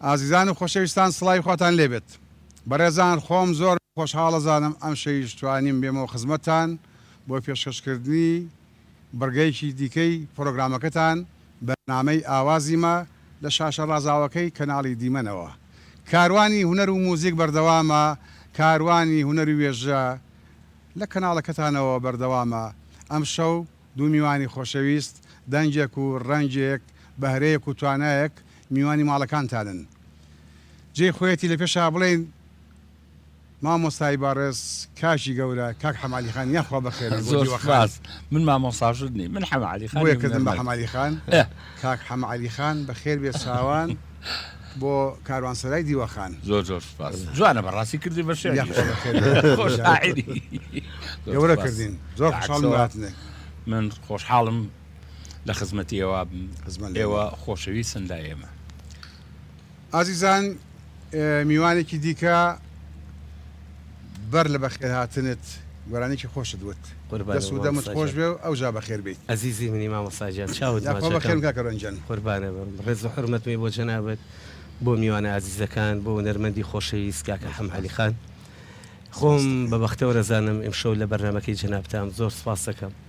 ئازیزان و خۆشەویستان سڵاوی خواتان لێبێت بەڕێزان خۆم زۆر خۆشحاڵەزانم ئەم شەویش توانیم بێمەوە خزمەتان بۆ پێشکەشکردنی بڕگەیەکی دیکەی پڕۆگرامەکەتان بەرنامەی ئاوازیمە لە شاشە ڕازاوەکەی کەناڵی دیمەنەوە. کاروانی هونەر و موزیک بەردەوامە کاروانی هونەر و وێژە لە کەناڵەکەتانەوە بەردەوامە ئەمشەو دوو میوانی خۆشەویست دەنگێک و ڕەنگێک بەهرەیەک و توانایەک میوانی ماڵەکانتانن جێی خۆیەتی لە پێشا بڵێین مامۆستای بەڕێز کاکی گەورە کاک حەمەعەلی خان یاخوا بەخێربێت بۆ زۆر دیوە خان سوپاس من مامۆستاشت نیم من حەمەعەلی خان بۆیە کردم بە هونەرمەند حەمەعەلی خان ئه کاک حەمەعەلی خان بەخێر بێت چاوان بۆ کاروانسەرای دیوە خان زۆر زۆر سوپاس جوانە بەڕاستی کردی بە شعریش یاخوا بەخێر بێت کاک خۆش حەمەعەلی خان شاعیری زۆر گەورە سوپاس کردین زۆر بە خۆشحاڵم عەکسەوە بەهاتنێک من خۆشحاڵم لە خزمەتی ئێوە بم خزمەت لێ ئێوە بێ خۆشەویستن لای ئێمە. ئازیزان میوانێکی دیکە بەر لە بەخێرهاتنت گۆرانیەکی خۆشت وت قوربانت دەست و دەمت مامۆستا خۆش گیان. بێ و ئەوجا بەخێر بێیت. ئەزیزی منی مامۆستا گیان چاوت یاخوا بەخێر ماچەکەم بن کاکە رەنجەن. قوربانت بم ڕێز و حورمەتمی بۆ جەنابت بۆ میوانە ئازیزەکان بۆ هونەرمەندی خۆشەویست کاکە حەمە عەلی خان خۆم بە بەختەوەرەزانم ئیمشەو لە بەرنامەکەی جەنابتام زۆر سوپاستەکەم.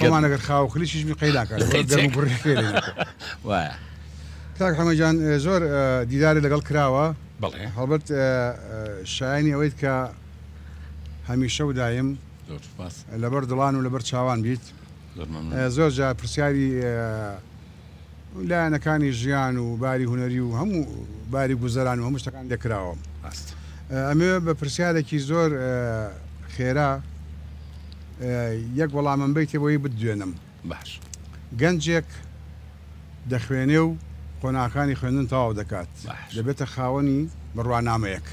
خۆمان ئەگەر خاو خلیچیش بی قەی ناکات لەبەر گەرم و گوڕی فێ لێ ناکەن. وایە. کاک حەمە گیان زۆر دیدارت لەگەڵ کراوە بەڵێ. هەڵبەت شایەنی ئەوەیت کە هەمیشە و دایم زۆر سوپاس. لەبەر دڵان و لەبەر چاوان بیت. زۆر مەمنون. زۆر جار پرسیاری لایەنەکانی ژیان و باری هونەری و هەموو باری گوزەران و هەموو شتەکان لێ کراوە. ئەمەوێ بە پرسیارێکی زۆر خێرا یەک وەڵامم بەیتێ بۆی بتدوێنم. باش. گەنجێک دەخوێنێ و قۆناغەکانی خوێندن تەواو دەکات، دەبێتە خاوەنی بڕوانامەیەک.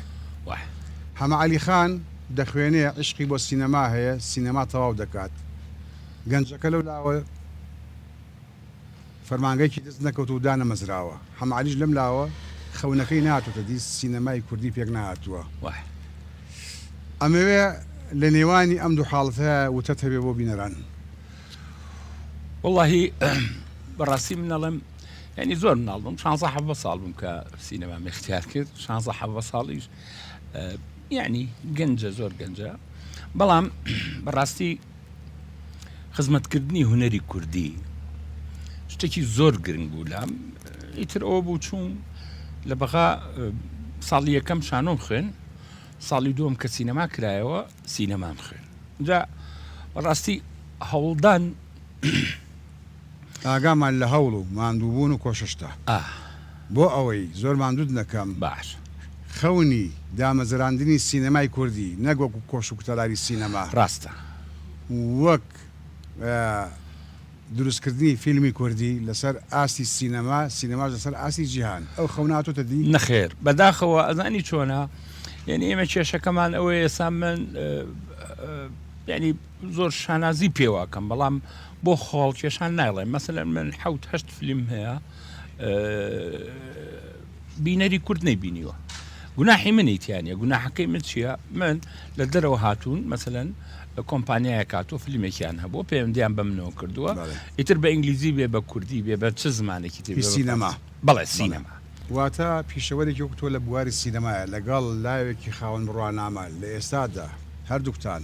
حەمە عەلی خان دەخوێنێ، عیشقی بۆ سینەما هەیە، سینەما تەواو دەکات. گەنجەکە لەو لاوە. فەرمانگەیەکی دەست نەکەوتوو و دانەمەزراوە. حەمالیش لەم لاوە خەونەکەی نەهاتۆتە دی، سینەمای کوردی پێک نەهاتووە. ئەمەوێ لە نێوانی ئەم دوو حاڵەتە وتەت هەبێ بۆ بینەران؟ وەڵاهی بە ڕاستی من ئەڵێم یانی زۆر مناڵ بووم، شانزە حەڤدە ساڵ بووم کە سینەمام ئیختیار کرد، شانزە حەڤدە ساڵیش یانی گەنجە، زۆر گەنجە. بەڵام بە ڕاستی. خزمەتکردنی هونەری کوردی شتێکی زۆر گرنگ بوو لام ئیتر ئەوە بوو چووم لە بەغا ساڵی یەکەم شانۆم خوێن ساڵی دووەم کە سینەما کرایەوە سینەمام خوێن جا بەڕاستی هەوڵدان ئاگامان لە هەوڵ و ماندووبوون و کۆششتە. بۆ ئەوەی زۆر ماندووت نەکەم، خەونی دامەزراندنی سینەمای کوردی نەک وەکو کۆش و کوتەلاری سینەما، وەک دروستکردنی فیلمی کوردی لەسەر ئاستی سینەما، سینەماش لەسەر ئاستی جیهان، ئەو خەونە هاتۆتە دی؟ نەخێر، بەداخەوە ئەزانی چۆنە، یانی ئێمە کێشەکەمان ئەوەیە ئێستا من یانی زۆر شانازی پێوە ئەکەم، بەڵام بۆ خۆڵ کێشان ناڵێ مەسەن من حوت هەشت فلیم هەیە بینەری کورد نەیبینیوە گوناحی منی تیانە گوناحەکەی من چییە من لە دەرەوە هاتوون مەسەن کۆمپانیایە کاتۆ فیلمێکیان هەبوو پەیوەندیان بە منەوە کردووە ئیتر بە ئینگلیزی بێ بە کوردی بێ بە چ زمانێکی تر سینەما بەڵێ سینەما واتە پیشەوەرێکی وەکتۆ لە بواری سینەمایە لەگەڵ لاوێکی خاوەن بڕوانامە لە ئێستادا هەردووکتان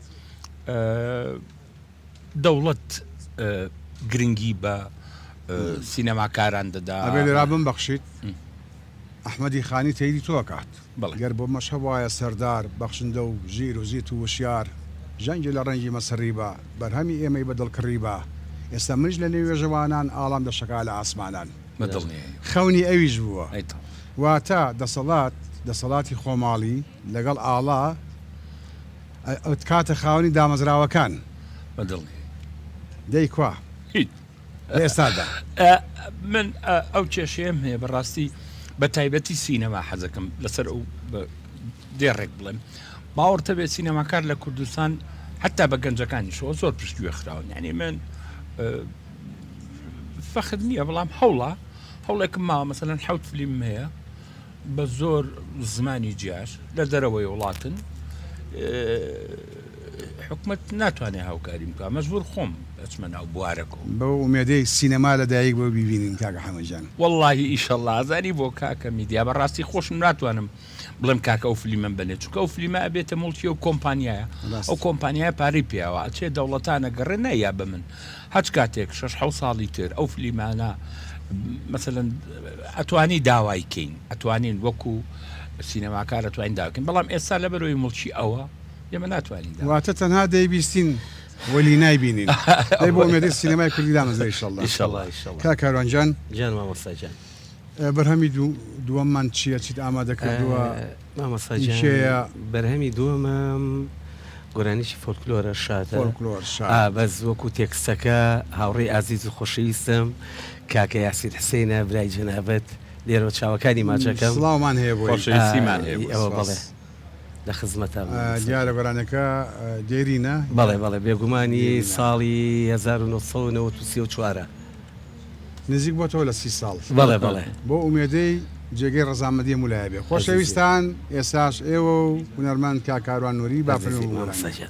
دەوڵەت گرنگی بە سینەماکاران دەدا. ئەبێ لێرا بمبەخشیت ئەحمەدی خانی تەیری تۆ ئەکات. گەر بۆمەش هەبوایە سەردار، بەخشندە و ژیر و زیت و وشیار ژەنگی لە ڕەنجی مە سڕیبا، بەرهەمی ئێمەی بە دڵ کڕیبا، ئێستا منیش لە نێو وێژەوانان ئاڵام دەشەکا لە ئاسمانان. خەونی ئەویش بووە. واتە دەسەڵات، دەسەڵاتی خۆماڵی. لەگەڵ ئاڵا ئەتکاتە خاوەنی دامەزراوەکان. بە دڵی. دەی کوا؟ هیچ. لە ئێستادا. من ئەو کێشەیەم هەیە بە ڕاستی بە تایبەتی سینەما حەزەکەم لەسەر ئەو دێڕێک بڵێم باوەڕتە بێت سینەماکار لە کوردستان حتا بە گەنجەکانیشەوە زۆر پشتگوێ خراون یعنی من فەخر نییە بەڵام هەوڵە هەوڵێکم ماوە مەسەەن حوت فلیم هەیە بە زۆر زمانی جیاش لە دەرەوەی وڵاتن حکومت ناتوانێت هاوکاری بکە مەجبور خۆم ئەچمە ناو بوارەکەو بەو ئومێدەی سینەما لە دایک بۆ بیبینین کاکە حەمەجان. وەڵاهی ئیشەڵا ئازانی بۆ کاکە میدیا بەڕاستی خۆشم ناتوانم بڵێم کاکە ئەو فلیمەم بەنێ چونکە ئەو فلیمە ئەبێتە موڵکی ئەو کۆمپانیایە ئەو کۆمپانیایە پارەی پێیاوە ئەچێ دەوڵەتانە گەڕێ نایابە من هەچ کاتێک شەش حەوت ساڵی تر ئەو فلیمانە مەسەلەن ئەتوانی داوای کەین ئەتوانین وەکو سینەماکار ئەتوانین داکەین بەڵام ئێستا لە بەرەوەی مڵکی ئەوە ئێمە ناتوانین دا. واتە تەنها دەیبیستین وەلی نایبینین دەی بۆ ئومێدی سینەمای کوردی دامەزرێ ئیشەڵڵا ئیشەڵڵا ئیشەڵڵا کاک کاروان جان. جان مامۆستا جان. بەرهەمی دوو دووەممان چییە چیت ئامادە کردووە؟ مامۆستا گیان کێیە؟ بەرهەمی دووەمم گۆرانیی فۆلکلۆرە شادە فۆلکلۆر شا ئا بەس وەکو تێکستەکە هاوڕێی ئازیز و خۆشەویستم کاکە یاسین حسێنە برای جەنابت لێرەوە چاوەکانی ماچەکەم سڵاومان هەیە بۆی خۆشەویست سیمان هەیە بۆی، ئەوە بەڵێ سپاس. لە خزمەتام ئا مامۆستا دیارە گیان. گۆرانیەکە ئا دێرینە؟ بەڵێ بەڵێ بێگومانی دێرینە. ساڵی هەزار و نۆ سەد و نەوەد و سێ و چوارە. نزیک بۆتەوە لە سی ساڵ. بەڵێ بەڵێ. بەو ئومێدەی جێگەی ڕەزامەندی هەموو لایە بێ. خۆشەویستان ئێستاش ئێوە و هونەرمەند کاک کاروان نوری با فەرمی بگۆرانین.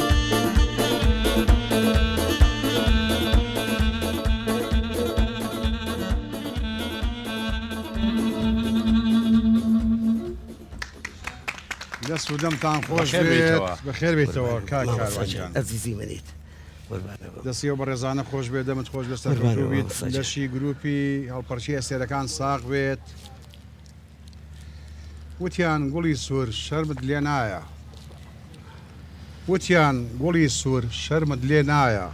دەست و دەمتان خۆش بەخێر بێت بێیتەوە. بەخێر بێتەوە کاک مامۆستا کاروان گیان جان ئەزیزی منیت قوربانە بم. دەستی و بەڕێزانە خۆش بێت دەمت خۆش بێت قوربانە سەرکەوتوو بیت مامۆستا گیان. لەشی گروپی هەڵپەرچی ئەستێرەکان ساغ بێت وتیان گوڵی سوور شەرمت لێ نایە وتیان گوڵی سوور شەرمت لێ نایە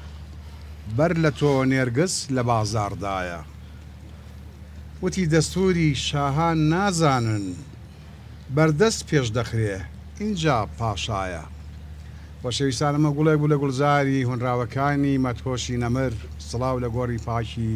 بەر لە تۆ نێرگز لە بازاڕدایە وتی دەستووری شاهان نازانن بەردەست پێش دەخرێ ئینجا پاشایە وە شەویستان ئەمە گوڵێک بوو لە گوڵزاری هۆنراوەکانی مەدهۆشی نەمر سڵاو لە گۆڕی پاکی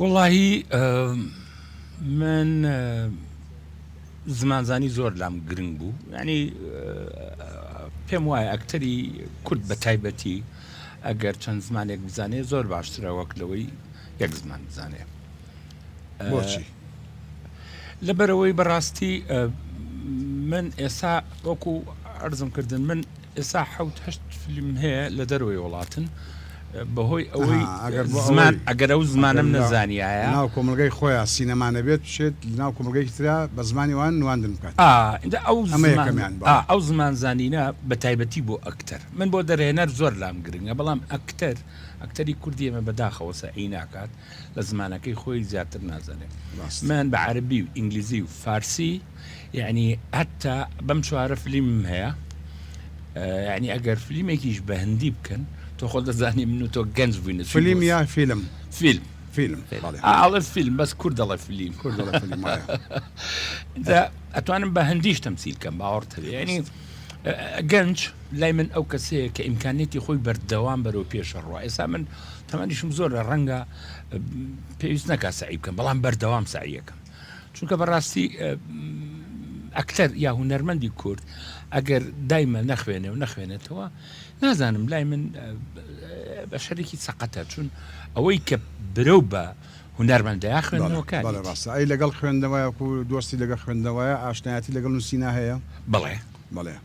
وەڵاهی من زمانزانی زۆر لام گرنگ بوو ینی پێم وایە ئەکتەری کورد بە تایبەتی ئەگەر چەند زمانێک بزانێ زۆر باشترە وەک لەوەی یەک زمان بزانێ بۆچی لەبەرەوەی بەڕاستی من ئێستا وەکو ئەرزم کردن من ئێستا حەوت هەشت فیلم هەیە لە دەرەوەی وڵاتن بەهۆی ئەوەی زمان ئەگەر ئەو زمانم نەزانایە ناو کۆمەلگای خۆیان سینەما نەبێت بچێت ناو کۆمەلگەی تررا بە زمانی وان نواندن بکات ئەو زمان زانینە بە تایبەتی بۆ ئەکتەر من بۆ دەرهێنەر زۆر لام گرنگە بەڵام ئەکتەر ئەکتەری کوردی ئێمە بەداخەوە سەعی ناکات لە زمانەکەی خۆی زیاتر نازانێ من بە عربی و ئینگلیزی و فارسی یعنی هەتا بەم چوارە فلیم هەیە ینی ئەگەر فلیمێکیش بە هەندی بکەن تۆ خۆ دەزانانی من و تۆ گەنج بووینە فیلم یا فیلم فیلم فیلم ئاڵە فیلم بەس کورد دەڵە فیلم کورد ئەتوانم بە هەندیش تەمسیل کەم باوەڕ تەوێنی گەنج لای من ئەو کەسەیە کە ئیمکانێتی خۆی بەردەوام بەرەو پێشە ڕوە ئێسا من تەمەنیشم زۆرە ڕەنگە پێویست نەکا سعی بکەم بەڵام بەردەوام سعیەکەم چونکە بەڕاستی ئەکتەر یا هوەرمەندی کورد ئەگەر دایمە نەخوێنێ و نەخوێنێتەوە نازانم لای من بە شەرێکی سەقەتە چون ئەوەی کە برە و بە هوەرمەندەیە خوێندنەوەکە ڕاستە ئەی لەگەڵ خوێندنەوەیەکو دۆستی لەگە خوێندنەوەیە ئاشنایەتی لەگەڵ نووسینا هەیە بڵێ بڵێ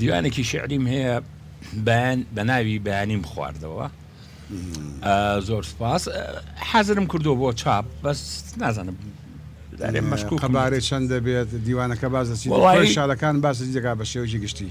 دیوانێکی شعریم هەیە بەیان بە ناوی بەیانیم خواردەوە زۆر سپاس حەزرم کردو بۆ چاپ بەس نازانم دارێ مەشکو قەبارەی چەند دەبێت دیوانەکە باز دەچیت شارەکان باس دەکا بە شێوەی گشتی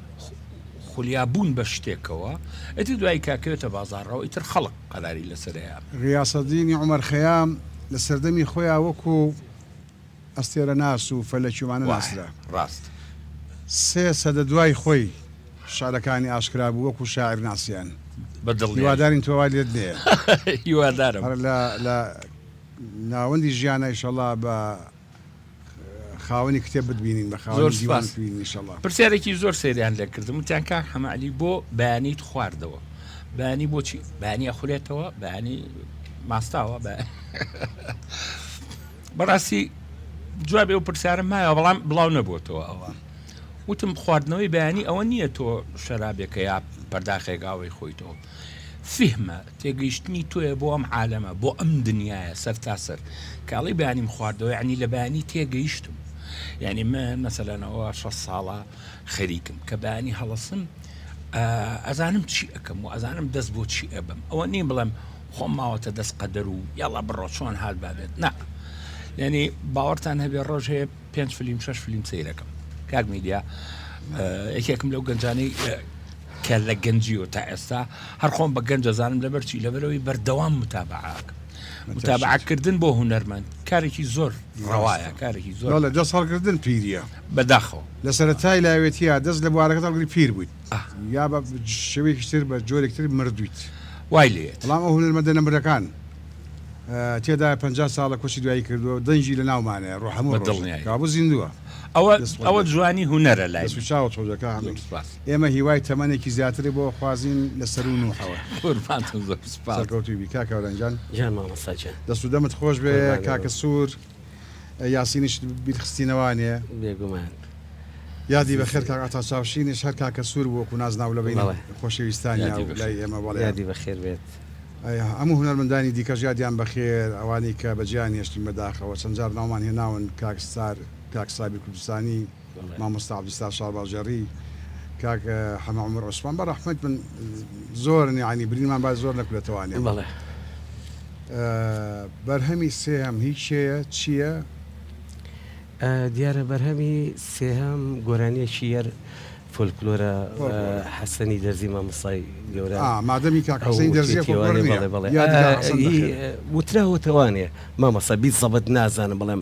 خولیا بوون بە شتێکەوە ئیتر دوایی کاکەوێتە بازاڕەوە ئیتر خەڵک قەراری لەسەرەیا. غیاسەدینی عومەر خەیام لە سەردەمی خۆیا وەکو ئەستێرەناس و فەلەکی وانە ناسرا. ڕاست. سێ سەدە دوای خۆی شعرەکانی ئاشکرا بوو وەکو شاعیر ناسیان. بە دڵنیایی. هیوادارین تۆ وا لێت نەیە. هیوادارم. هەر لە ناوەندی ژیانە ئیشەڵا بە خاوەنی کتێب بتبینین بە خاوەنی دیوان بتبینین انشالله پرسیارێکی زۆر سەیریان لێ کردم وتیان کاک حەمەعلی بۆ بەیانیت خواردەوە بانی بۆچی بانی ئەخورێتەوە بانی ماستاوە بە بەڕاستی جوابێ و پرسیارم مایە بەڵام بڵاو نەبووتەوە ئەوە وتم خواردنەوەی بەیانی ئەوە نییە تۆ شەرابێکە یا پەرداخێکاوەی خۆیتەوە فیهمە، تێگەیشتنی تۆیە بۆ ئەم عالەمە، بۆ ئەم دنیایە سەرتاسەر، کە ئەڵێی بەیانیم خواردەوە یەعنی لە بەیانی تێگەیشتم، یەعنی من مەسەلەن ئەوە شەست ساڵە خەریکم کە بەیانی هەڵەسم ئەزانم چی ئەکەم و ئەزانم دەست بۆ چی ئەبەم ئەوە نیم بڵێم خۆم ماوەتە دەست قەدەر و یاڵا بڕۆ چۆن هات بابێت نا یعنی باوەڕتان هەبێ ڕۆژ هەیە پێنج فلیم شش فلیم سیرەکەم کاک میدیا یەکێکم لەو گەنجانەی کە لە گەنجیەوە تا ئێستا هەر خۆم بە گەنج دەزانم لەبەر چی لەبەرەوەی بەردەوام متابعەکەم متابعکردن بۆ هوەرمەند کارێکی زۆر ڕەوایە کارێکی زۆر لە دەست هەڵگردن پیریە بەداخەوە لە سەرەتای لاوێتیا دەست لە بوارەکە هەڵگری پیر بوویت یا بە شێوەیەکیتر بە جۆرێکتر مردویت وای لێت بەڵام ئەو هونەرمەندە نەمرەکان تێدایە پەنجا ساڵە کۆچی دوایی کردووە دەنگی لە ناومانەیە ڕۆ هەموو ڕۆژ کابوو زیندووە ئەوە ئەوە جوانی هونەرە لای و چاوە تۆزەکە ئێمە هیوای تەمەنێکی زیاتری بۆ خوازین لە سەرو نوحەوە سەرکەوتوبی کاکەورەنجان دەست و دەمت خۆش بێ کاکە سوور. یاسینیش بیرخستینەوە نێ؟ بێگومان. یادی بەخێر کاک عەتا چاوشینیش هەر کاکە سوور بوو وەکو نازناو لە بەینی بەڵێ. خۆشەویستانی یادی و لای بەخێر. ئێمە بەڵێ. یادی بەخێر بێت. هەموو هونەرمەندانی دیکەش یادیان بەخێر، ئەوانەی کە بەجێیان هێشتین بەداخەوە، چەند جار ناومان هێناون، کاک ستار، کاک سابیر کوردستانی، مامۆستا عبدالستار شارباژێڕی کاک حەمە عمر عوسمان بە ڕەحمەت من زۆر نیعانی برینمان با زۆر نەکولە توانێ بەڵێ بەرهەمی سێهەم هیچ شەیە چییە؟ دیارە بەرهەمی سێهەم گۆرانیەکی یەر فۆلکلۆرە حەسەنی دەرزی مامۆسای گەورە مادەمی کاکەسەی دەرزی وتراوەتەوانێ مامەسە بیت زەبت نازانم بڵێم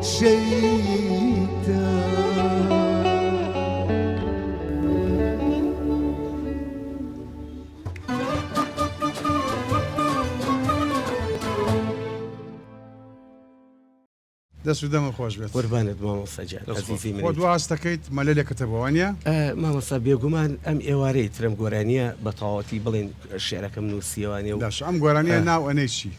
دەست و دەمە خۆش بێت قوربانت مامۆستا گیان دەست خۆش. ئەزیزی من خۆ دواز دەکەیت مەلە لێ کەتە بەوانە ئە، مامۆستا بێگومان ئەم ئێوارەی ترم گۆرانیە بە تەواوەتی بڵێن شعرەکەم نووسیەوانێ و داش ئەم گۆرانیە ناو ئەنەی چی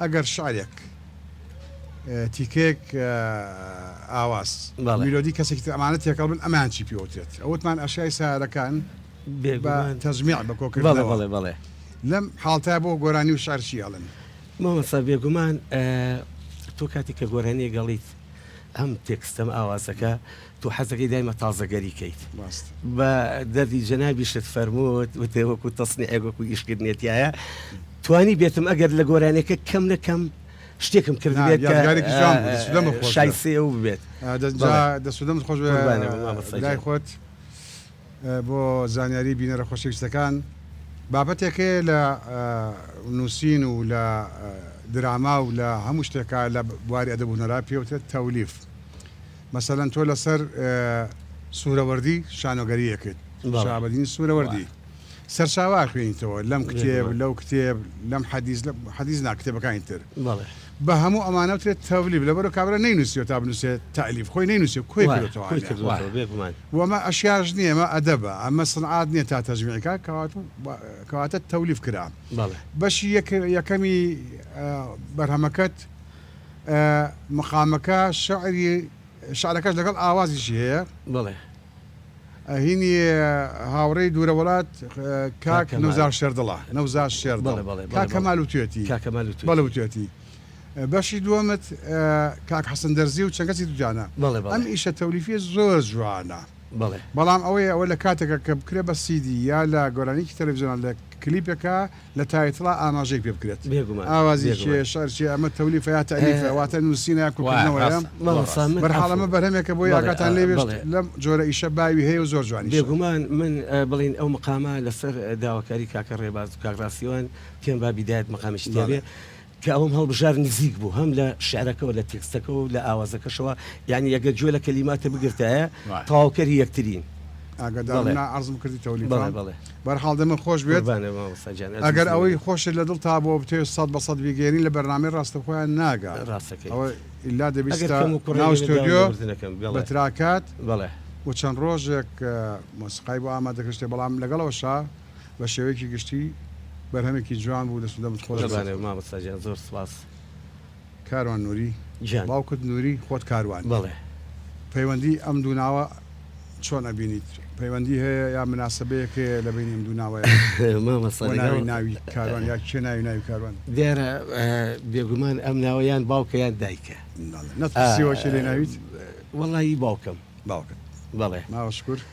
ئەگەر شعرێک تیکەیەک ئاواز میلۆدی کەسێکی تر ئەمانە تێکەڵ بن ئەمەیان چی پێوترێت ئەوتمان ئەشیای سارەکان بە تەجمیع بە کۆکردنەوە بەڵێ بەڵێ لەم حاڵتە بۆ گۆرانی و شعر چی ئەڵێن مامۆستا بێگومان تۆ کاتێک کە گۆرانیە گەڵیت ئەم تێکستەم ئاوازەکە تۆ حەزەکەی دایمە تازەگەری کەیت ڕاست. بە دەردی جەنابیشت فەرمووت وتت وەکو تەسنیعێک وەکو ئیشکردنێ تیایە توانی بێتم ئەگەر لە گۆرانیەکە کەم لە کەم شتێکم کرد نا، بێت یادگارێکی جوان بوو، دەست و دەمت خۆش شای بێ. سێ ئەو ببێت آه، دەست جا بەڵێ. دەست و دەمت خۆش بێ قوربانە بم مامۆستا برای گیان. خۆت آه، بۆ زانیاری بینەرە خۆشەویستەکان بابەتێک هەیە لە آه، نووسین و لە آه، دراما و لە هەموو شتێکا لە بواری ئەدەب و هونەرا پێوترێت تەولیف مەسەلەن تۆ لەسەر سورەوەردی شانۆگەریەکت، شەهابەدینی سورەوەردی، سەرچاوە ئەخوێنیتەوە لەم کتێب، لەو کتێب، لەم حەدیس، حەدیس نا کتێبەکانی تر، بە هەموو ئەمانە وترێت تەولیف، لەبەرو کابرا نەینوسیوە تا بنوسێت تەلیف، خۆی نەینوسێ کۆی کردۆتەوە، وە ئەمە ئەشیاش نیە ئەمە ئەدەبە، ئەمە سنعات نیە تا تەجویعی کا، کەواتە تەولیف کرا، بەشی یەکەمی بەرهەمەکەت مقامەکە شعری شعرەکەش لەگەڵ ئاوازیشی هەیە. بەڵێ. هینی هاوڕێی دوورە وڵات کاک نەوزار شێردڵە نەوزار شێردڵ کاک کەمال وتوێتی کاک کەمال وتوێتی بەڵێ وتوێتی بەشی دووەمت کاک حەسەن دەرزی و چەند کەسی دووجانە بەڵێ بەڵێ ئەم ئیشە تەولیفیە زۆر جوانە بەڵێ بەڵام ئەوەیە ئەوە لە کاتێکە کە بکرێ بە سیدی یا لە گۆرانیەکی تەلەفزیۆنان لە کلیپێکا لە تایتڵا ئاماژەی پێ بکرێت. بێگومان. ئاوازی کێیە؟ شعر چیە؟ ئەمە تەولیفە یا تەئلیفە؟ واتە نووسینە یا کۆکردنەوەیە؟ بەرحاڵ ئەمە بەرهەمێکە بۆی ئاگاتان لێ بێت لەم جۆرە ئیشە باوی هەیە و زۆر جوانیشە. بێگومان من بڵێین ئەو مقامە لەسەر داواکاری کاکە ڕێباز و کاک ڕاستیوان پێم با بیدایەت مقامێکی تیا بێ. کە ئەوم هەڵبژارد نزیک بوو هەم لە شعرەکەوە لە تێکستەکەەوە و لە ئاوازەکەشەوە یعنی ئەگەر گوێ لە کەلیماتە بگرتایە تەواوکەری یەکترین ئاگدارناعرزم کردی تەولی بەرحاڵ دەمە خۆش بێت ئەگەر ئەوەی خۆشت لە دڵ تا بۆ بتێ سەد بە سەد بیگەێنی لە بەرنامی ڕاستە خۆیان ناگا ڕاستەکە ئەوە ئیلا دەبیستۆدیۆ بە تراکات بڵێ و چەند ڕۆژێک مۆسیقای بۆ ئامادەکەشتێ بەڵام لەگەڵەوە شا بە شێوەیەکی گشتی بەرهەمێکی جوان بوو دەست و دەمت خۆش بێت. قوربانت مامۆستا گیان زۆر سوپاس. کاروان نوری گیان. باوکت نوری خۆت کاروانی. بەڵێ. پەیوەندی ئەم دوو ناوە چۆن ئەبینیت پەیوەندی هەیە یا مناسەبەیەک هەیە لە بەینی ئەم دوو ناوەیا؟ مامۆستا لەگەڵ. بۆ ناوی ناوی کاروان یا کێ ناوی ناوی کاروان؟ دیارە بێگومان ئەم ناوە یان باوکە یان دایکە. نەت پرسیوە کێ لێ ناویت؟ وەڵا ی باوکم. باوکت. بەڵێ. ماوە شکور.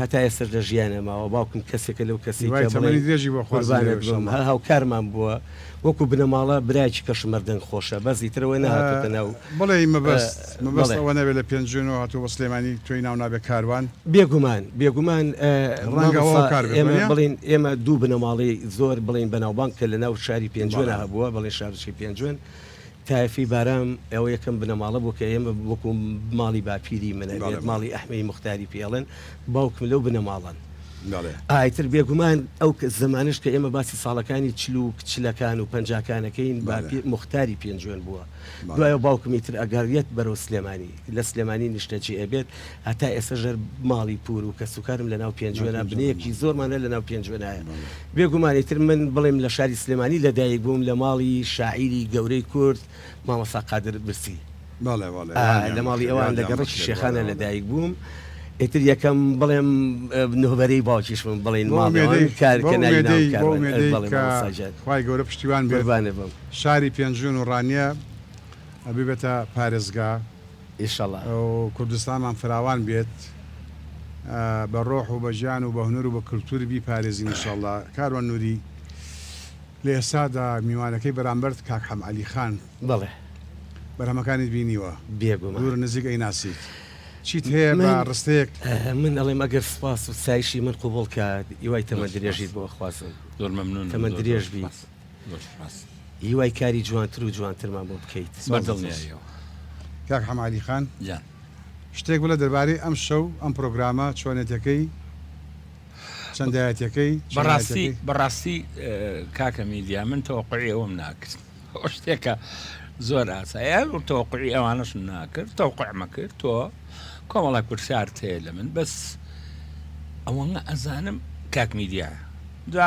هەتا ئێستەش لە ژیانە ماوە باوکم کەسێکە لەو کەسەی کە بڵێی قوربانت بم هەر هاوکارمان بووە وەکو بنەماڵە برایەکی کەشم هەر دەنگ خۆشە بەس ئیتر ئەوە نەهاتۆتە ناو بڵێی مەبەست مەبەست ئەوە نەبێت لە پێنجوێنەوە هاتووە بۆ سلێمانی تۆی ناو نابێت کاروان بێگومان بێگومان ڕەنگە هاوکار بێت ئێمە بڵێین ئێمە دوو بنەماڵەی زۆر بڵێین بەناوبانگ کە لەناو شاری پێنجوێنە هەبووە بەڵێن شارۆچکەی پێنجوێن تایەفی بارام ئەوە یەکەم بنەماڵە بوو کە ئێمە وەکو ماڵی باپیری من ئەبێت ماڵی ئەحمەی موختاری پێڵێن باوکم لەو بنەماڵەن ئایتر بێگومان ئەو زمانش کە ئێمە باسی ساڵەکانی چلوک چلەکان و پەنجاکانەکەین باپی موختاری پێنجوێن بووە دوایە باوکمی تر ئەگەڕێت بەرەو سلێمانی لە سلێمانی نیشتە جێ ئەبێت هەتا ئێسە ژەر ماڵی پور و کەس وکارم لە ناو پێنجوێنا بنەیەکی زۆرمانە لە ناو پێنجوێنایە بێگومانی تر من بڵێم لە شاری سلێمانی لەدایک بووم لە ماڵی شاعیری گەورەی کورد مامەسا قادر برسی لە ماڵی ئەوان لە گەڕکی شێخانە لەدایک بووم ئیتر یەکەم بڵێم نهبەرەی باوکیش من بڵێن خی گەورە پشتیوان بێبانێ بم شاری پێنجوێن و ڕانیە ببێتە پارێزگا ئیشەڵا و کوردستانمان فراوان بێت بە ڕۆح و بە گیان و بە هونەر و بە کلتور بیپارێزین ئیشەڵا کاروان نوری لە ئێستادا میوانەکەی بەرامبەرت کاک حەم عەلی خان بەڵێ بەرهەمەکانیت بینیوە بێگومان دوور و نزیک ئەیناسیت چیت هەیە بە من ڕستەیەک؟ من ئەڵێم ئەگەر سوپاس و ستایشی من قبوڵ کات هیوای تەمەن درێژیت بۆ ئەخوازم زۆر مەمنونم زۆر زۆر تەمەندرێژ بیت. سوپاس. زۆرت ڕاست هیوای کاری جوانتر و جوانترمان بۆ بکەیت بە دڵنیایەوە. کاک حەمەعەلی خان گیان. شتێک بڵێ دەربارەی ئەم شەو ئەم پرۆگرامە چۆنێتەکەی چەندایەتیەکەی بەڕاستی بەڕاستی کاکە میدیا من تەوەقعی ئەوم ناکرد ئەو شتێکە زۆر ئاسایە تەوەقعی ئەوانەشم ناکرد تەوقعمە کرد تۆ کۆمەڵە پرسیارت هەیە لە من بەس ئەوەنە ئەزانم کاک میدیا جا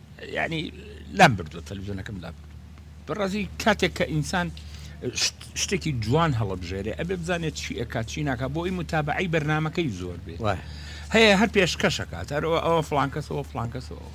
یانی لام بردوە تەلویزیۆنەکەم لام بردو بەڕازی کاتێک کە ئینسان شتێکی جوان هەڵبژێرێ ئەبێ بزانێت چی ئەکات چی ناکە بۆ ئەی متابعی بەرنمەکەی زۆر بێت هەیە هەر پێشکەشەکات هەرەوە ئەوە فلانکەسەوە فلانکەسەوە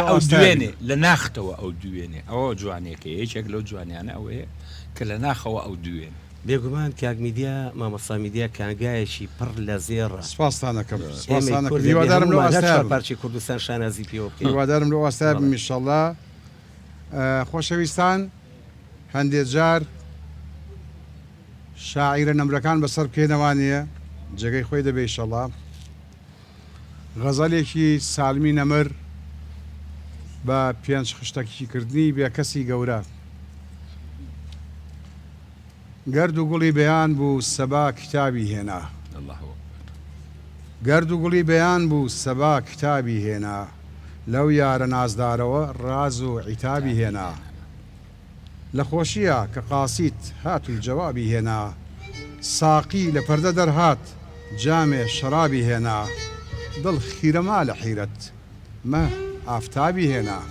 ئەو دوێنێ لە ناختەوە ئەو دوێنێ ئەوە جوانەکە یەکێک لەو جوانیانە ئەوەیە کە لە ناخەوە ئەو دوێنێ بێگومان کاک میدیا مامۆستا میدیا کانگایەکی پڕ لە زێڕە. سپاستان ئەکەم سپاستان ئەکەم هیوادارم لەو ئاستایە بم ئێمەی کورد دەبێ هەموومان هەر چوار پارچەی کوردستان شانازی پێوە بکەین هیوادارم لەو ئاستایە بم ان شاءاللە خۆشەویستان هەندێ جار شاعیرە نەمرەکان بەسەر بکەینەوە وانیە جێگەی خۆی دەبێ ان شاءاللە. غەزەلێکی سالمی نەمر بە پێنج خشتەکی کردنی بێکەسی گەورە گەرد و گوڵی بەیان بوو سەبا کتابی هێنا الله اکبر گەرد و گوڵی بەیان بوو سەبا کتابی هێنا لەو یارە نازدارەوە ڕاز و عیتابی هێنا. لە خۆشییا کە قاسیت هات و جەوابی هێنا ساقی لە پەردە دەرهات جامێ شەرابی هێنا دڵ خیرە ما لە حیرەت مە ئافتابی هێنا.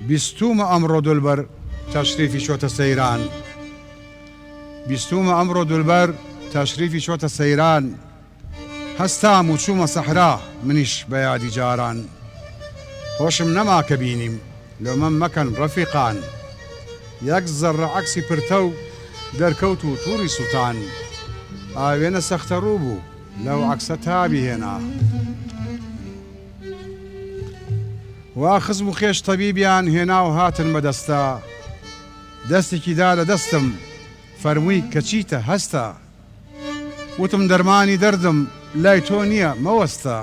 بیستوومە ئەمڕۆ دولبەر تەشریفی چۆتە سەیران. بیستوومە ئەمڕۆ دولبەر تەشریفی چۆتە سەیران هەستام و چوومە سەحرا منیش بە یادی جاران هۆشم نەما کە بینیم لۆمەم مەکەن ڕەفیقان یەک زەڕە عەکسی پرتەو دەرکەوت و توڕی سووتان ئاوێنە سەختە ڕوو بوو لەو عەکسە تابی هێنا وا خزم و خێش تەبیبیان هێنا و هاتن بە دەستە دەستێکی دا لە دەستم فەرمووی کە چیتە هەستە وتم دەرمانی دەردم لای تۆ نییە مەوەستە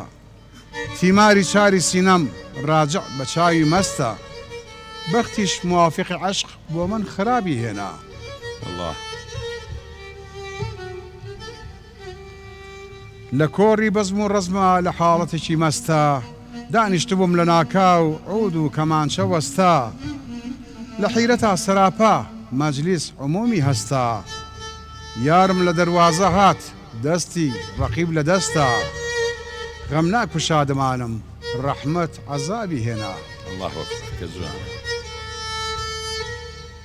تیماری چاری سینەم ڕاجع بە چاوی مەستە بەختیش موافقی عەشق بۆ من خرابی هێنا اللە. لە کۆڕی بەزم و ڕەزما لە حاڵەتێکی مەستا دانیشتبووم لە ناکاو عود و کەمانچە وەستا لە حیرەتا سەراپا مەجلیس عمومی هەستا یارم لە دەروازە هات دەستی ڕەقیب لە دەستا غەمناک و شادمانم ڕەحمەت عەزابی هێنا. اللە اکبر کە جوانە.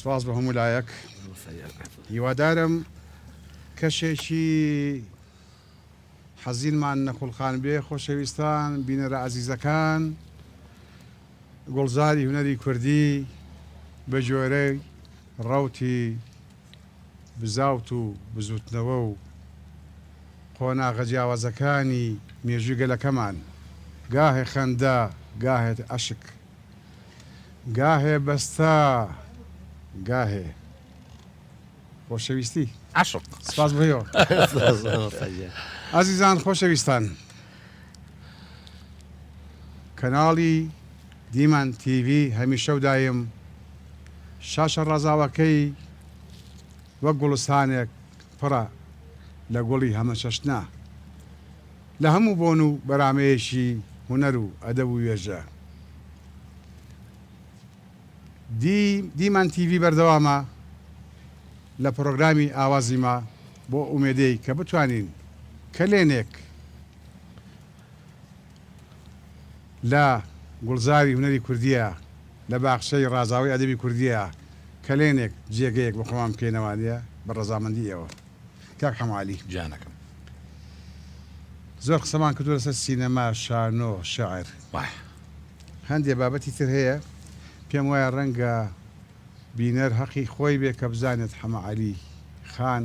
سپاس بۆ هەموو لایەک هیوادارم کەشێکی حەزینمان نەخولقان بێ خۆشەویستان بینەرە ئازیزەکان گوڵزاری هونەری کوردی بە جۆرەی ڕوتی بزاوت و بزوتنەوە و قۆناغە جیاوازەکانی مێژووی گەلەکەمان، گاهێ خەندە، گاهێ ئەشک، گاهێ بەستە، گاهێ خۆشەویستی. عەشق. سپاس بۆ ئێوە. ئازیزان خۆشەویستان، کەناڵی دیمەن تیڤی هەمیشە و دایم شاشە ڕازاوەکەی وەک گوڵستانێک پڕە لە گوڵی هەمەچەشنە لە هەموو بۆن و بەرامەیەکی هونەر و ئەدەب و وێژە دی دیمەن تیڤی بەردەوامە لە پڕۆگرامی ئاوازی ما بۆ ئومێدەی کە بتوانین کەلێنێک لە گوڵزاری هونەری کوردییە، لە باخچەی ڕازاوەی ئەدەبی کوردییە، کەلێنێک جێگەیەک بۆ خۆمان بکەینەوە بە ڕەزامەندی ئێوە. کاک حەمە عەلی. جانەکەم. زۆر قسەمان کردووە لەسەر سینەما، شانۆ، شیعر. وایە. هەندێ بابەتی تر هەیە، پێم وایە ڕەنگە بینەر هەقی خۆی بێ کە بزانێت حەمە عەلی خان،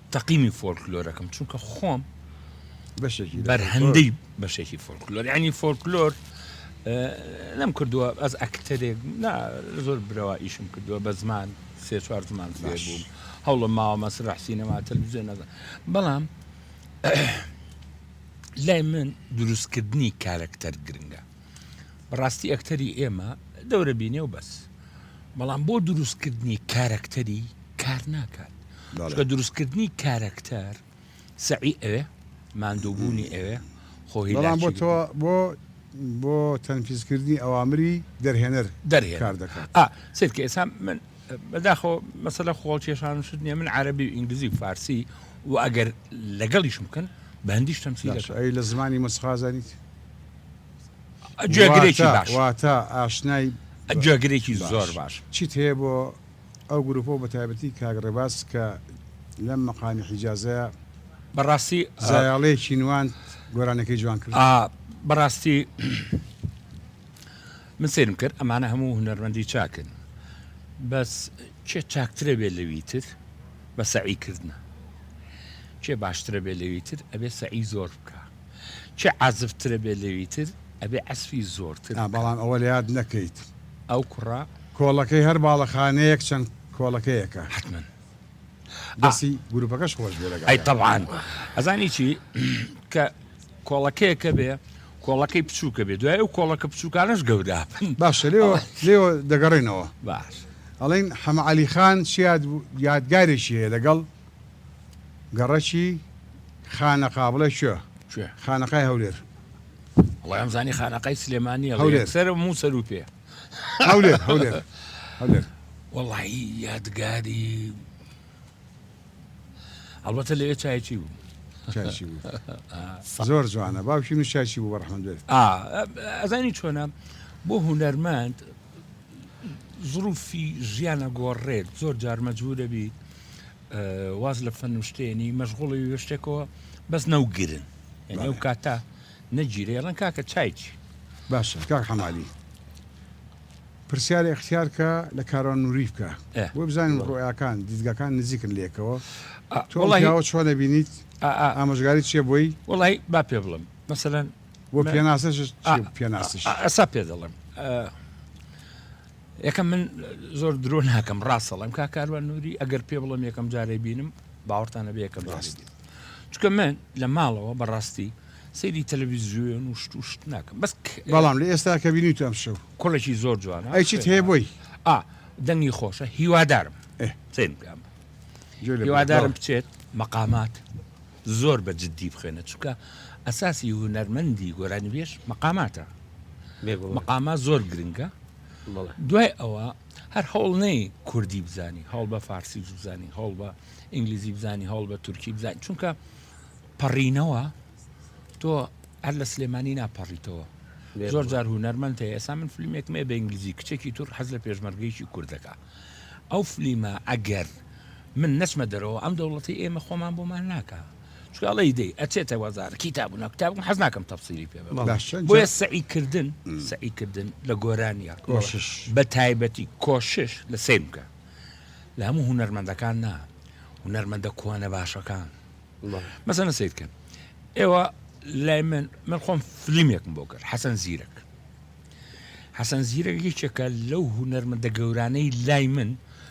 تەقینی فۆلکلۆرەکەم چونکە خۆم بەشێکی بەرهەندەی بەشێکی فۆلکلۆر ینی فۆلکلۆر لەم کردووە ئەس ئەکتەرێک زۆر برەوە ئیشم کردووە بە زمان سێ چوار زمان فێر بووم هەوڵە ماوە مەسرح سینەما تەلویزیۆن نەزان بەڵام لای من دروستکردنی کارەکتەر گرنگە بەڕاستی ئەکتەری ئێمە دەورە بینێ و بەس بەڵام بۆ دروستکردنی کارەکتەری کار ناکات چکە دروستکردنی کارەکتەر سەعی ئەوێ ماندووبوونی ئەوێ خۆی بەڵام بۆ تۆ بۆ بۆ تەنفیزکردنی ئەوامری دەرهێنەر دەرهێ کار دەکات سرکە ئێسا من بەداخۆ مەسەلە خۆڵ کێشان شت نیە من عربی و ئینگلیزی و فارسی و ئەگەر لەگەڵیشم بکەن بەندیش تەمسی لە زمانی مەسخازانیت گوێگرێکی باش واتە ئاشنای گوێگرێکی زۆر باش چیت هەیە بۆ ئەو گروپۆ بە تایبەتی کاگڕێباز کە لەم مەقامی حیجازەیە بەڕاستی زایاڵەیەکی نوان گۆرانەکەی جوان کرد بەڕاستی من سرم کرد ئەمانە هەموو هونەرمەندی چاکن بەس چێ چاکترە بێ لەوی تر بە سەعی کردنە چێ باشترە بێ لەوی تر ئەبێ سەعی زۆر بکە چی عازف ترە بێ لەوی تر ئەبێ عەزفی زۆرتر نا بەڵام ئەوە لەیاد نەکەیت ئەو کوڕە کۆڵەکەی هەر باڵەخانەیەک چەند کۆڵەکەیەکە. حەتمەن. دەستی گروپەکەش خۆش بێ لەگەڵ ئەی تەبعان ئەزانی چی کە کۆڵەکەیەکە بێ کۆڵەکەی بچووکە بێ دوای ئەو کۆڵەکە بچووکانەش گەورە بن باشە لێوە لێوە دەگەڕێنەوە باش ئەڵێن حەمە عەلی خان چیاد یادگارێکی هەیە لەگەڵ گەڕەکی خانەقا بڵێ کوێ؟ کوێ؟ خانەقای هەولێر. وەڵای ئەمزانی خانەقای سلێمانیە هەولێر سەرە موو سەرو پێ هەولێر هەولێر هەولێر وەڵایی یادگاری ئەڵبەتە لەوێ چایچی بوو چایچی بوو زۆر جوانە باوکی من چایچی بوو بەڕحمەت بێت ئەزانی چۆنە بۆ هونەرمەند زروفی ژیانە گۆڕێت زۆر جار مەجبورە بیت واز لە فەن و شتێنی مەشغوڵی وێ شتێکەوە بەس نەو گرن یعنی ئەو کاتە نەگیرە ئێڵەن کاکە چای چی باشە کاک حەمالی پرسیارە اختیارکە لە کاران نووری بکە ئێ. بۆ بزانین ڕۆیاکان دیدگاکان نزیکن لێکەوە ئا، تۆ ئەم وەڵاهی- پیاوە چۆن دەبینیت ئا ئا ئامۆژگاری چیە بۆی وەڵای با پێ بڵم مەسەلەن بۆ مە- پێناسەش آه، چی پێناسش ئا- ئەسا پێ دەڵێم ئا، یەکەم من زۆر درۆ ناکەم ڕاستەڵم کا کاروان نووری ئەگەر پێ بڵم یەکەم جارێ بینم باوەڕتانە بێ یەکەم ڕاست چکە من لە ماڵەوە بەڕاستی سەیری تەلەویزیۆن و شت و شت ناکەم بەس بەڵام لە ئێستا کە بینیت ئەم شەو کوڵێکی زۆر جوانە ئەیچیت هەیە بۆی ئا دەنگی خۆشە هیوادارم سێن بکەم هیوادارم بچێت مەقامات زۆر بە جدی بخوێنە چونکە ئەساسی هونەرمەندی گۆرانیبێژ مەقاماتە مەقامات زۆر گرنگە دوای ئەوە هەر هەوڵ نەی کوردی بزانی هەوڵ بە فارسی بزانی هەوڵ بە ئینگلیزی بزانی هەوڵ بە تورکی بزانانی چونکە پەڕینەوە تۆ هەر لە سلێمانی ناپەڕیتەوە زۆر جار هونەرمەند هەیە ئێسا من فیلمێکمێ بە ئینگلیزی کچێکی تور حەز لە پێشمەرگەیکی کوردەکە ئەو فلیمە ئەگەر من نەچمە دەرەوە ئەم دەوڵەتەی ئێمە خۆمان بۆمان ناکا چونکە ئەڵێی دەی ئەچێتە وەزارەت کیتاب و ناکتاب من حەز ناکەم تەفسیری پێ بەم بەڵێ. باشە جا بۆیە سەعیکردن سەعیکردن لە گۆرانیە کۆشش بە تایبەتی کۆشش لە سەیر بکە لە هەموو هونەرمەندەکان نا هونەرمەندە کۆنە باشەکان بەڵێ. مەسەنە سەیر کەن ئێوە لای من من خۆم فلیمێکم بۆ کرد حەسەن زیرەک حەسەن زیرەک یەکێکە لەو هونەرمەندە گەورانەی لای من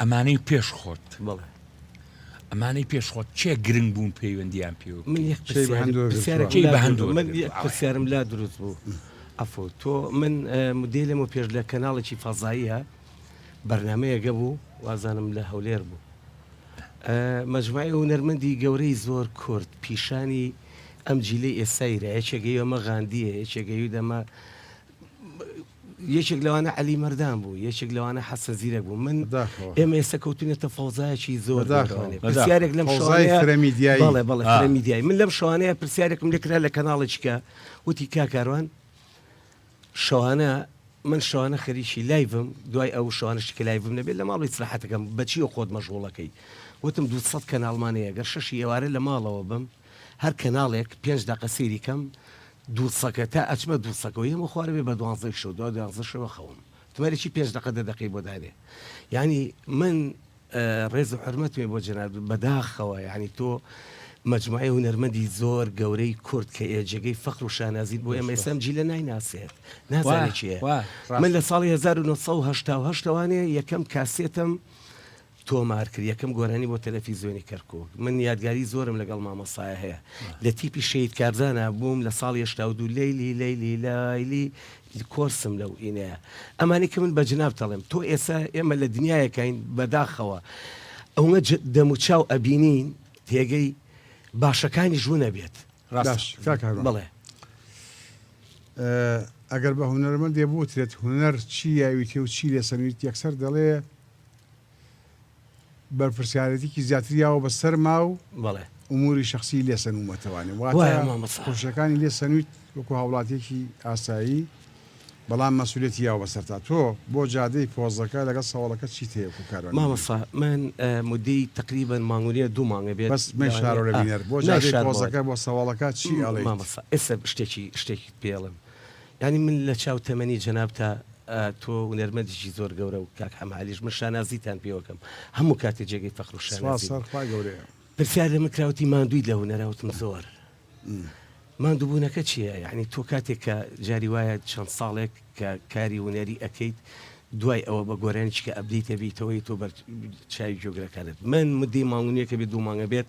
ئەمانەی پێش خۆت بەڵێ ئەمانەی پێش خۆت چێ گرنگ بوون پەیوەندیان پێ من یەک چی پرسیار- بەهەندۆ گرتووە؟ پرسیارێکی چی لا بەهەندۆ دروست- من گرتووە؟ یەک پرسیارم لا دروست بوو ئەفۆ تۆ من اه، مدێ لەمە پێش لە کەناڵێکی فەزاییە بەرنمەیەگە بوو وازانم لە هەولێر بوو اه، مەجموعی هونەرمەندی گەورەی زۆر کورد پیشانی ئەم جیلەی ئێستایرا یەکێگەی ئەمە غاندیە یەکێگەی دەمە یەکێک لەوانە عەلی مەردان بوو یەکێک لەوانە حەسەن زیرەک بوو من بەداخەوە ئێمە ئێستا کەوتوینەتە فەوزایەکی زۆر بەداخەوە گەورەوانێ بەداخەوە پرسیارێک لەم فەوزای شەوانەیە فرە میدیایی بەڵێ بەڵێ فرە ئا. میدیایی من لەم شەوانەیە پرسیارێکم لێ کرا لە کەناڵێکیکە وتی کا کاروان شەوانە من شەوانە خەریکی لایڤم دوای ئەو شەوانەشی کە لایڤم نەبێت لە ماڵی سراحەتەکەم بەچیەوە خۆت مەژغوڵەکەی وتم دوو سەد کەناڵمان هەیە گەر شەشی ئێوارە لە ماڵەوە بم هەر کەناڵێک پێنج دەقە سەیری کەم دووسەکە تا ئەچمە دووسەکەوە یەم و خوارەوێ بە دوانزەی شەو دوا دوانزە شەوە خەوم تمەری چی پێنج دەقە دە دەقەی بۆ دانێ یانی من ڕێز و حورمەتمێ بۆ جەنابت بەداخەوە یانی تۆ مەجموعەی هونەرمەندی زۆر گەورەی کورد کە ئێ جێگەی فەخر و شانازیت بۆ ئێمە ئێسام جیلە نایناسێت نازانێت چیە من لە ساڵی 1970 ەوانێ یەکەم کاسێتم تۆمار کرد یەکەم گۆرانی بۆ تەلەفیزۆنی کەرکوک من یادگاری زۆرم لەگەڵ مامۆستایە هەیە لە تیپی شەید کارزانا بووم لە ساڵی هەشتا و دوو لەیلی لەیلی لەیلی کۆرسم لەو ئینەیە ئەمانی کە من بە جناب تەڵێم تۆ ئێسا ئێمە لە دنیایەکەین بەداخەوە ئەوە دەموچاو ئەبینین تێگەی باشەکانی ژوو نەبێت بڵێ ئەگەر بە هونەرمەندێ بوترێت هونەر چی یاویتێ و چی لێسەنویت یەکسەر دەڵێ بەرپرسیارێتیکی زیاتری یاوە بە سەرما و بەڵێ ئوموری شەخسی لێ سەنوومەتەوانێ واتە وایە مامە سا خۆشیەکانی لێ سەنویت وەکو هاوڵاتیەکی ئاسایی بەڵام مەسوولێتی یاوە بە سەرتا تۆ بۆ جادەی پۆزەکە لەگەڵ سەوەڵەکە چیت هەیە وەکو کاروانی مامە سا من ئە مودەی تەقریبەن مانگونیە دوو مانگە بێت بەس مەی لەوانەیە- شارۆ لە آ، بینەر بۆ نای جادەی شار بەڵێ. پۆزەکە بۆ سەوەڵەکە چی ئەڵێیت؟ مامە سا ئێستا شتێکی شتێکیت پێڵێم یانی من لە چاو تەمەنی جەنابتا تۆ ونەرمەندیکی زۆر گەورە و کاک حەمە عەلیش من شانازیتان پێوەکەم هەموو کاتێ جێگەی فەخر و شانازی سوپاس هەر خوا گەورەیە. پرسیار لە من کرا وتی ماندوویت لە هونەرا وتم زۆر ماندووبونەکە چیە یانی تۆ کاتێک کە جاری وایە چەند ساڵێک کە کاری هونەری ئەکەیت دوای ئەوە بە گۆرانیچ کە ئەبدەیت ئەبیتەوە یتۆ بەر چاوی گوێگرەکانت من مدەی مانگ و نیوێک ئەبێت دوو مانگ ئەبێت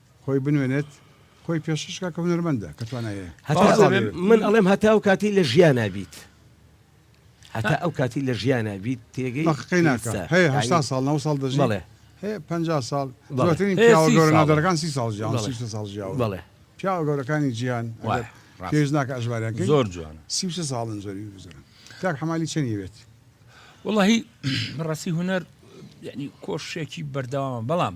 خۆی بنوێنێت خۆی پێشکەش کا کە هونەرمەندە کە توانای هەیە هەتا ئەو من ئەڵێم هەتا ئەو کاتی لە ژیانا بیت هەتا ئەو کاتی لە ژیانا بیت تێگەی بەقەی ناکە هەیە هەشتا ساڵ نەوە ساڵ دەژی بەڵێ هەیە پەنجا ساڵ زۆرترین پیاوە گەورە نادەرەکان سی ساڵ ژیاون سی و شەش ساڵ ژیاون بەڵێ پیاوە گەورەکانی جیهان ئەگەر پێویست ڕاست ناکە ئەژماریان کەین زۆر جوانە سی و شەش ساڵن زۆری بزرن کاک حەمالی چەنی بێت وەڵاهی ڕاستی هونەر یعنی کۆشێکی بەردەوامە بەڵام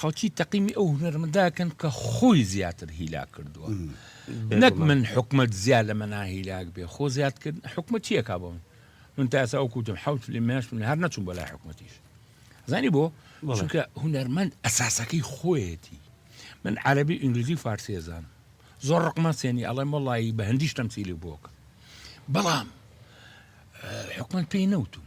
خەڵکی تەقیمی ئەو هونەرمەنداکەن کە خۆی زیاتر هیلاک کردووە نەک من حکومت زیاد لە مەنا هیلاک بێ خۆ زیاد کرد حکومت چیەکە بۆ من من تا ئێستا وەکوتم حوت لە مێش من هەر نەچوم بۆ لای حکومەتیش زانی بۆ چونکە هونەرمەند ئەساسەکەی خۆیەتی من عربی ئینگلیزی فارسی زان زۆر ڕقمە سێنی ئەڵێم وڵی بە هەندیش تەمسیلی بۆکە بەڵام حکومت پێی نەوتم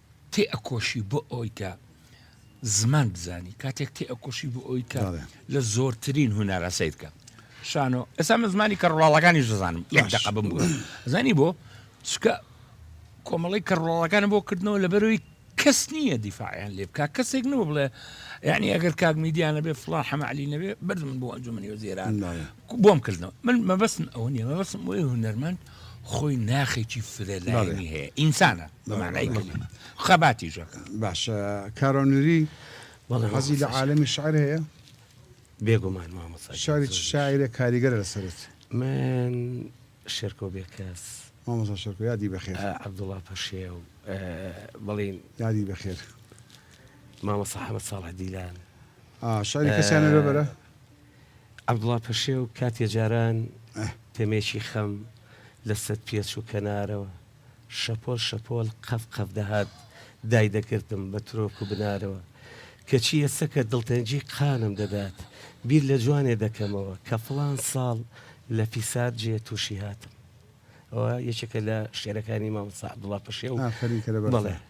تێئەکۆشی بۆ ئەوەی کە زمان بزانی کاتێک تێئەکۆشی بۆ ئەوەی کە بەڵێ. لە زۆرترین هونەرە سیر بکە شانۆ ئێستا من زمانی کەڕواڵەکانی دەزانم یەک باش. دەقە بم بوو زانی بۆ چکە کۆمەڵی کەڕواڵەکان بۆ کردنەوە لەبەروی کەس نییە دیفاعیان لێ بکە کەسێک نەبوو بڵێ یعنی ئەگەر کاک میدیانە بێ فڵان حەمەعلی نەبێ بردمن بۆ ئەنجومنی وەزیران بەڵێ. بۆم کردنەوە من مەبەستم ئەوە نیە مەبەستم بۆی هونەرمەند خۆی ناخێکی فرەلایەنی هەیە ئینسانە بەمانای کردنە خەباتی ژەکە باشە کارۆنری بەڵێزی لە عاالمی شعر هەیە بێگومان مامۆسا شاری شاعرە کاریگەر لەسرت من شێرکۆ بێ کەس مامۆسا شەرکۆ یادی بەخێر عبدوڵا پەشێ و بەڵین یادی بەخێر مامۆسا حەمە ساڵح دیلان شاری کەسیانە بەرە عەبدوڵا پەشێو کاتێ جاران تەمێکی خەم لە سەد پێچ و کەنارەوە شەپۆل شەپۆل قەف قەف دەهات دای دەگرتم بە ترۆک و بنارەوە کەچی ئێستا کە دڵتەنگی قانم دەدات بیر لە جوانێ دەکەمەوە کە فڵان ساڵ لە فیسار جێ تووشی هاتم ئەوە یەکێکە لە شعرەکانی مامۆستا عەبدوڵا پەشێو ئافەرین کە لە بەغدا. بەڵێ.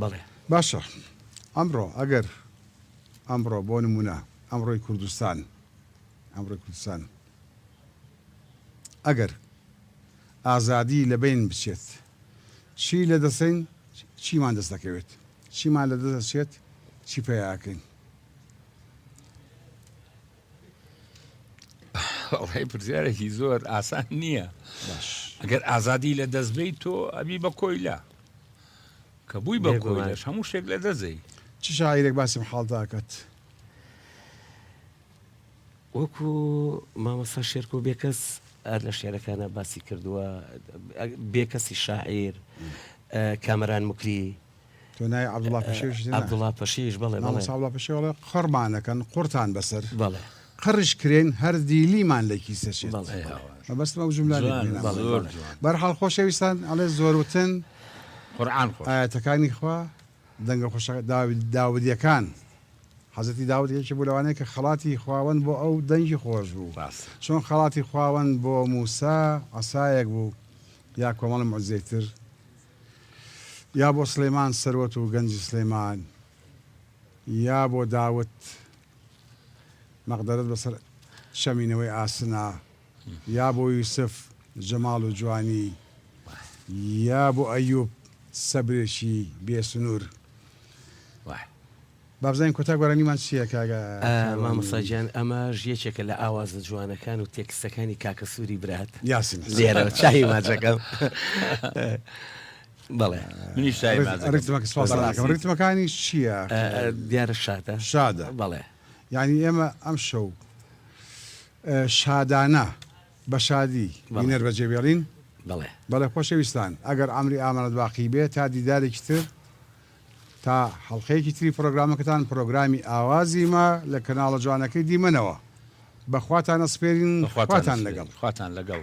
بەڵێ. باشە ئەمڕۆ ئەگەر ئەمڕۆ بۆ نمونە ئەمڕۆی کوردستان ئەمڕۆی کوردستان ئەگەر ئازادی لە بین بچێت چی لە دەسین چیمان دەست دەکەوێت چیمان لە دەست دەچێت چی پیاکەین ئەڵی پرسیارێکی زۆر ئاسان نییە ئەگەر ئازادی لە دەستبیت تۆ ئەبی بە کۆیلا کە بووی بە کۆیلش هەموو شتێک لە دەزەی چ شاعیرێک باسم حاڵداکات وەکو مامەسا شێرکۆ بێکەس ئەر لە شعرەکانە باسی کردووە بێکەسی شاعیر کامەران مکری تۆ ناوی عەبدوڵا پەشێویشت هێنا؟ عەبدوڵا پەشێویش، بەڵێ، بەڵێ. مامۆستا عەبدوڵا پەشێو ئەڵێ، قڕمان ئەکەن، قڕتان بەسەر. بەڵێ. قڕیش کرێن، هەر دیلیمان لە کیسە چێت. بەڵێ. مەبەستم ئەو جوملانەی بۆ هێنامەوە. جوانە، زۆر جوانە. بە هەر حاڵ خۆشەویستان، ئەڵێ زۆر وتن. قورئان خۆش. ئایەتەکانی خوا، دەنگە خۆشە، داوی، داودییەکان، حەزرەتی داود یەکێکی بوو لەوانەی کە خەڵاتی خواوەند بۆ ئەو دەنگی خۆش بوو. ڕاستە. چۆن خەڵاتی خواوەند بۆ مووسا عەسایەک بوو، یا کۆمەڵ موعجزەی تر. یا بۆ سڵێمان سەروەت و گەنجی سڵێمان یا بۆ داوت مەقدەرەت بەسەر شەمی نەوەی ئاسنا یا بۆ یوسف جەماڵ و جوانی یا بۆ ئەیوب سەبرێکی بێ سنوور. با بزانین کۆتا گۆرانیمان چیە کاکە کاروانی. مامۆستا گیان ئەمەش یەکێکە لە ئاوازە جوانەکان و تێکستەکانی کاکە سوری برات یاسین حسن. لێرەوە چاوی ماچەکەم بەڵێ. منیش چاوی ماچەکەم ڕیتمەکە بەڕاستی. سوپاستان دەکەم ڕیتمەکانی چیە ئەکرێ دیارە شادە شادە بەڵێ. یانی ئێمە ئەم شەو شادانە بە شادی بەڵێ. بینەر بە جێ بێڵین بەڵێ. بەڵێ خۆشەویستان ئەگەر عەمری ئامانەت باقی بێ تا دیدارێکی تر. تا حەڵقەیەکی تری پڕۆگرامەکەتان پڕۆگرامی ئاوازی ما لە کەناڵە جوانەکەی دیمەنەوە بە خواتان ئەسپێرین خواتان لەگەڵ. خواتان لەگەڵ.